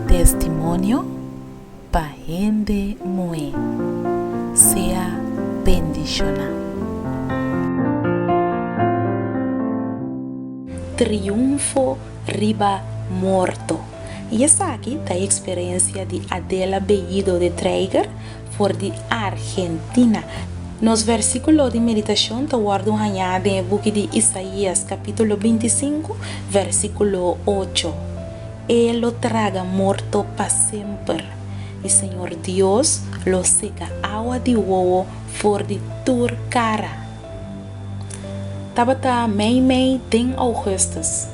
Testimonio pa hende muhé. Sea bendishoná. Triunfo riba morto. I esaki ta e eksperensia di Adela Bellido de Traeger. For di Argentina. Nos versíkulo di meditashon ta wòrdu hañá den e buki di Isaías kapítulo binti sinku, versíkulo ocho, E lo traga morto pa semper, i Señor Dios lo seka awa di wowo for di tur kara. Tabata mei mei den Augustus,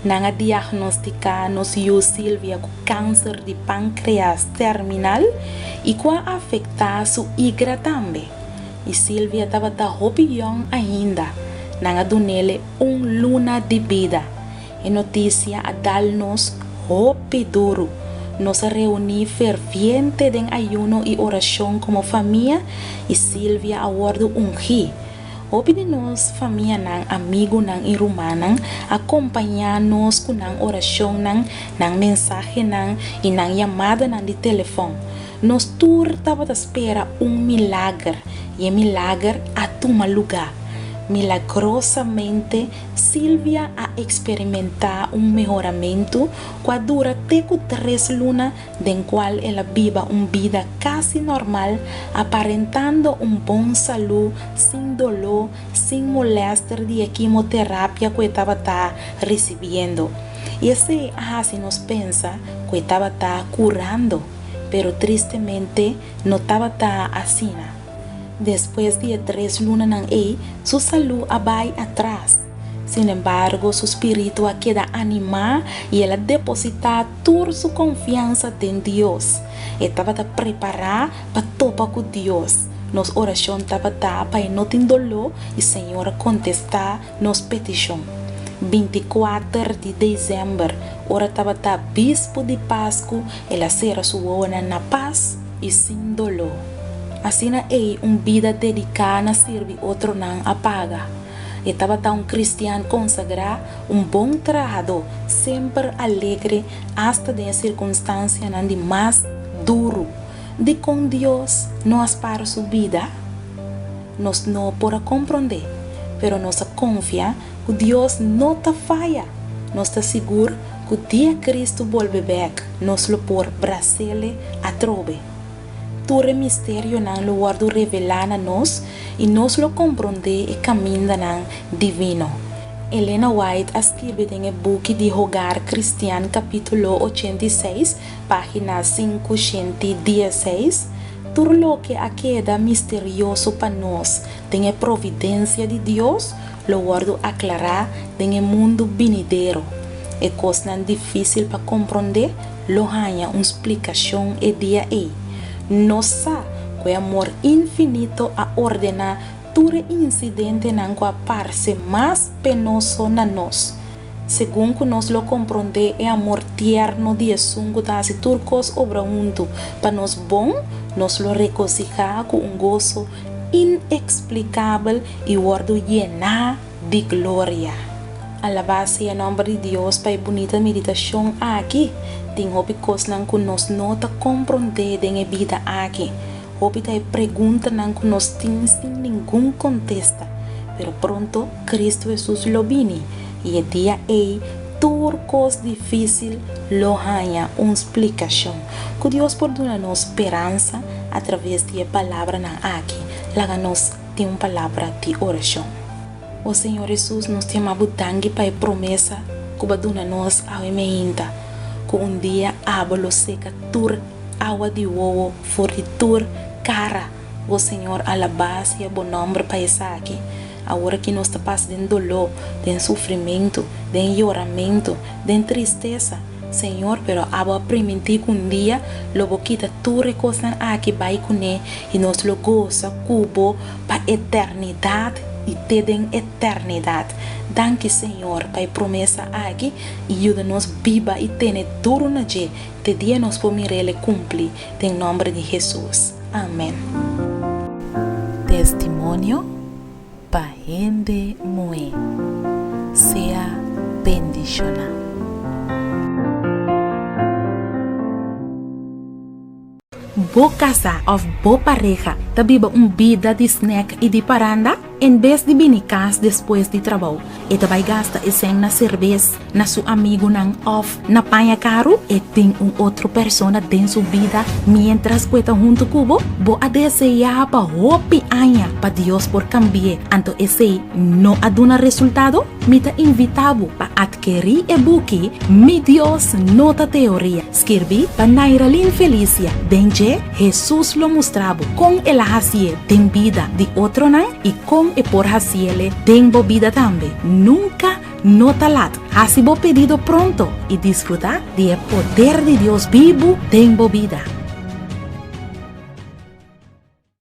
nan a diagnosticá nos yu Sylvia cu cancer di pancreas terminal y cu a afectá su igra tambe. Y Sylvia tabata hopi yong ainda, nan a dunele un luna di bida. E noticia a dal nos hopi duru. Nos a reuni ferviente den ayuno y oracion como famia y Silvia a wordo ungi. Hopi di nos famianan, amigunan y rumannan a compaña nos cu nan oracionnan, nan mensahenan y nan yamadanan di telefon. Nos tur tabata spera un milager y e milager a tuma lugar. Milagrosamente Silvia a eksperimentá un mehoramentu ku a dura te ku tres luna den kual el a biba un bida kasi nòrmal, aparentando un bon salú, sin doló, sin molèster di e kimoterapia ku e tabata risibiendo. I esei a hasi nos pensa ku e tabata kurando, pero tristemente no tabata asina. Despues di e tres lunanan ei, su salú a bai atras. Sinembargo, su spiritu a keda animá i el a depositá tur su konfiansa den Dios. E tabata prepará pa topa ku Dios. Nos orashon tabata pa e no tin doló i Señor a kontestá. Nos petishon. Bintikuater di desèmber, ora tabata bispu di Pasku, el a sera su wowonan na pas i sin doló. Asina ei un bida dediká na sirbi otronan a paga. E tabata un kristian konsagrá, un bon trahadó, semper alegre asta den e sirkunstansianan di mas duru. Dikon Dios no a spar su bida? Nos no por a komprondé, pero nos a konfiá ku Dios no ta faya. Nos ta sigur ku dia Kristu bolbe bèk, nos lo por bras'Ele atrobe. Tur e misterionan lo wòrdu revelá na nos i nos lo komprondé e kamindanan divino. Elena White a skirbi den e buki di Hogar Kristian kapítulo ochenta i seis, Página sinku shenti dieseis, Tur loke a keda misterioso pa nos den e providensia di Dios lo wòrdu aklará den e mundu binidero. E kosnan difísil pa komprondé lo haña un splikashon e dia ei. Nos sa ku e amor infinito a ordená tur e insidentenan ku a parse mas penoso na nos. Segun ku nos lo komprondé e amor tierno di Esun ku ta hasi tur kos obra huntu pa nos bon, nos lo regosihá ku un goso ineksplikabel i wòrdu yená di gloria. Alabá sea nòmber di Dios pa e bunita meditashon aki! Tin hopi kosnan ku nos no ta komprondé den e bida aki. Hopi ta e preguntanan ku nos tin sin ningun kontesta. Pero pronto Kristu Hesus lo bini, i e dia ei tur kos difísil lo haña un splikashon. Ku Dios por duna nos speransa atraves di e palabranan aki, laga nos tin un palabra di orashon. O Señor Hesus, nos ta yama Bo danki pa e promesa ku Bo a duna nos awe mainta, ku un dia abo lo seka tur awa di wowo for di tur kara. O Señor, alabas ya bo nomber pa esaki. Awor aki nos ta pas den doló, den sufrimentu, den yoramentu, den tristesa, Señor, pero abo a primintí cu un dia lo bo kita tur e cosnan aki bai cuné y nos lo goza cu bo pa eternidad y te den eternidad. Danki, Señor, pa e promesa aki y yuda nos biba y tene duru na dje. Te dia nos por mira el e cumpli, den nomber di Hesus. Amen. Testimonio pa hende muhé. Sea bendishoná. Bo kasá òf bo pareha ta biba un bida di snèk i di paranda? En bes di bini kas despues di trabou, e ta bai gasta esèn na serbes, na su amigunan òf na paña karu? E tin un otro persona den su bida miéntras ku e ta huntu ku bo? Bo a deseá pa hopi aña pa Dios por kambi'é, anto esei no a duna resultado? Mi ta invitá bo pa atkerí e buki Mi Dios No Ta Teoria! Skirbí pa Nairalyn Felicia den dje Hesus lo mustra bo kon el a hasié den bida di otronan i kon e por hasiele den bo bida tambe. Nunka no ta lat! Hasi bo pedido pronto i disfrutá di e poder di Dios bibu den bo bida.